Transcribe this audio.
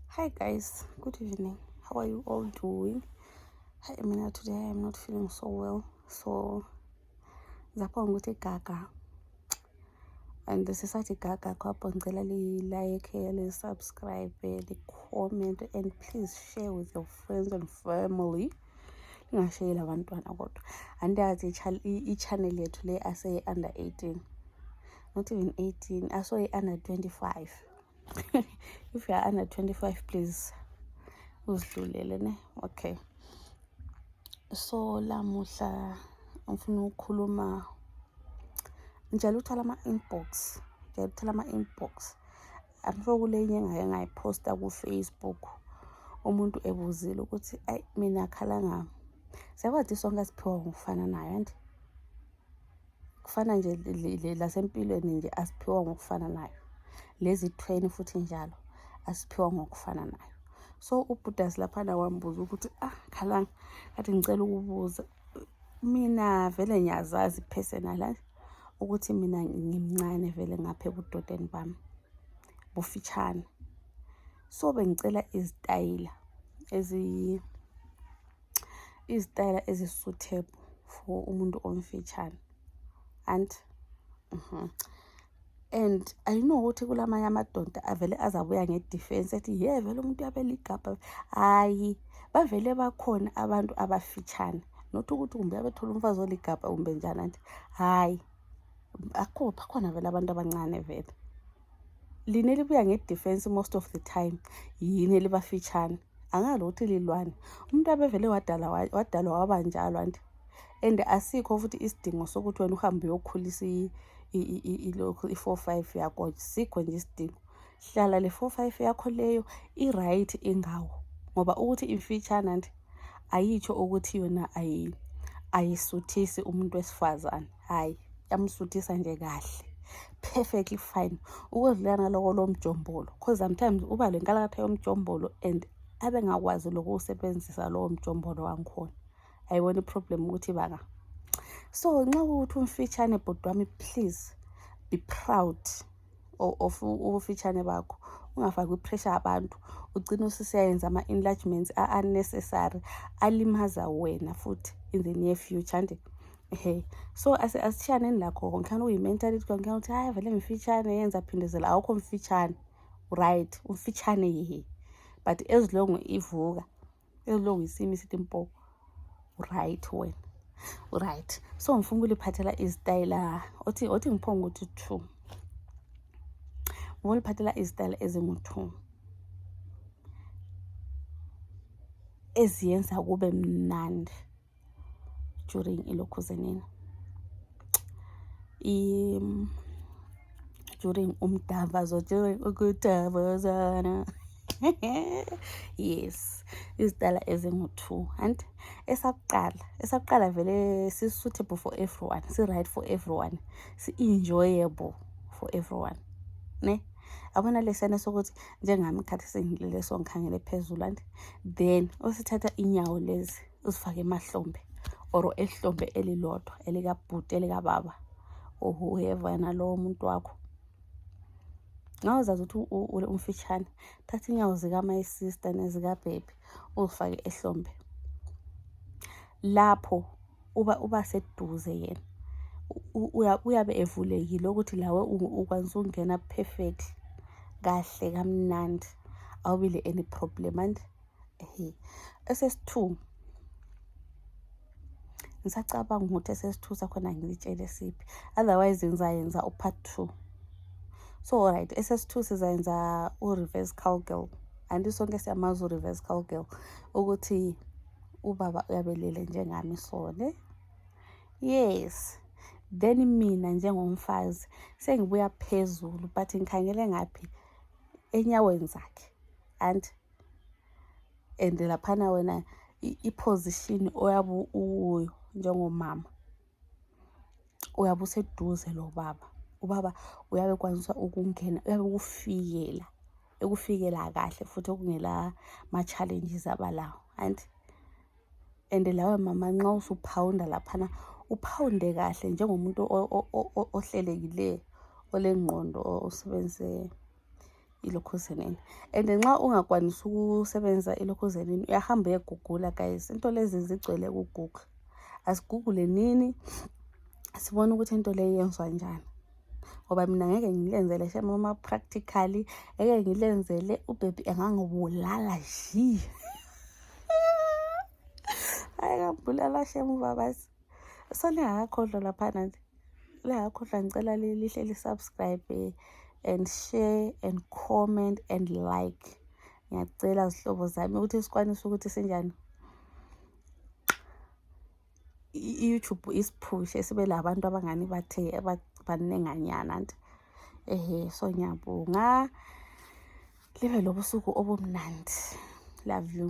Hi guys, good evening. How are you all doing? Hi Emina, today I am not feeling so well. So zapha ngikuthi gaga and this is such a gaga kwapho ngicela li-like li-subscribe li-comment and please share with your friends and family lingashayeli abantwana kodwa andiyazi i-channel yethu le ase-under 18 not even 18 i saw it under 25 if you are under 25 please uzidlulele ne okay so lamuhla ngifuna ukukhuluma njalo uthala ama-inbox njalo uthala ama-inbox i'm sure kule inye engake ngayiphosta kufacebook umuntu ebuzile ukuthi ayi mina khala ngami siyakwazi sonke asiphiwa ngokufana nayo anti kufana nje lasempilweni nje asiphiwa ngokufananayo lezithweni futhi njalo asiphiwa ngokufananayo so ubhudasi laphana wambuza ukuthi ah khalanga kathi ngicela ukubuza mina vele ngiyazazi personal ukuthi mina ngimncane vele ngapha ebudodeni bami bufitshane so bengicela izitayila ezi izitayela ezi suitable for umuntu omfitshane and mm -hmm. and i know ukuthi kulamanye amadonda avele azabuya ngedefense ethi ye vele umuntu yabe ligabha hayi bavele bakhona abantu abafitshane not ukuthi kumbe abethola umfazi oligabha kumbe njani anti hayi akho bakhona vele abantu abancane vele lina elibuya ngedefense most of the time yini elibafitshane angazi ukuthi lilwani umuntu abevele wadalwa waba njalo anti and asikho futhi isidingo sokuthi wena uhambe uyokhulisa ilokhu i-four five yakho sikho nje isidingo hlala le four five yakho leyo i-right ingawo ngoba ukuthi imfitshana nti ayitsho ukuthi yona ayisuthisi umuntu wesifazane hayi yamsuthisa nje kahle perfectly fine ukodlula ngaloko lomjombolo because sometimes uba le nkalakatha yomjombolo and abe ngakwazi lokuwusebenzisa lowo mjombolo wangikhona ayibona iproblem ukuthi baka so nxa ukuthi umfitshane bhuti wami please be proud of ubufitshane bakho ungafaki ipressure abantu ugcine ususiyayenza ama-enlargements a-unnecessary alimaza wena futhi in the near future nje he so asishiyaneni lakho konke khani uyi-mentality konke khani ukuthi hayi vele mfitshane yenza phindezela awukho mfitshane right umfitshane yehe but as long ivuka as long you see me sithi mpo uright wena uright so ngifuna ukuliphathela izitayela othi othi ngiphonga ukuthi two ngifuna uliphathela izitayela ezingu-two eziyenza kube mnandi during ilokhuze nini during umdavazo during ukudavazana yes izidala ezingu-two and esakuqala esakuqala vele si-suitable for everyone si-right for everyone si-enjoyable for everyone ne abona lesana sokuthi njengami khathi sengilele songikhangele phezulu and then osithatha inyawo lezi uzifake emahlombe or ehlombe elilodwa elikabhuti elikababa or whoever yena lowo umuntu wakho nxa uzazi ukuthi umfitshane thatha inyawo zikamayi sister nezikabhebhi uzifake ehlombe lapho uba uba seduze yena uyabe evulekile ukuthi lawe ukwanisa ukungena perfect kahle kamnandi awubile any problem and Hey. SS2 ngisacabanga ukuthi SS2 sakhona ngilitshele siphi otherwise ngizayenza upart 2 so right SS2 sizayenza ureverse cowgirl anti sonke siyamazi ureverse cowgirl ukuthi ubaba uyabelele njengami so ne yes then mina njengomfazi sengibuya phezulu but ngikhangele ngaphi enyaweni zakhe and and laphana wena iposition oyabe ukuyo njengomama uyabe useduze lobaba ubaba uyabe ekwanisa ukungena uyabe ukufikela ekufikela kahle futhi okungela ma-challenges abalawo anti and lawe mama nxa usuphawunda laphana uphawunde kahle njengomuntu ohlelekileyo olengqondo osebenzise ilokhuzenini and nxa ungakwanisi ukusebenzisa ilokhuzenini uyahamba uyegugula guys into lezi zigcwele kugugla asigugule nini sibone ukuthi into leyi yenzwa njani ngoba mina ngeke ngilenzele shemama practically ngeke ngilenzele ubhebhi engangibulala shi hayi ngambulala shemu babasi so lingakakhohlwa laphana lingakakhohlwa ngicela lihle lisubscribe and share and comment and like ngiyacela zihlobo zami ukuthi sikwanise ukuthi sinjani i-youtube isiphushe sibe labantu abangani bathe banenganyana nti ehe so ngiyabonga libe lobusuku obumnandi love you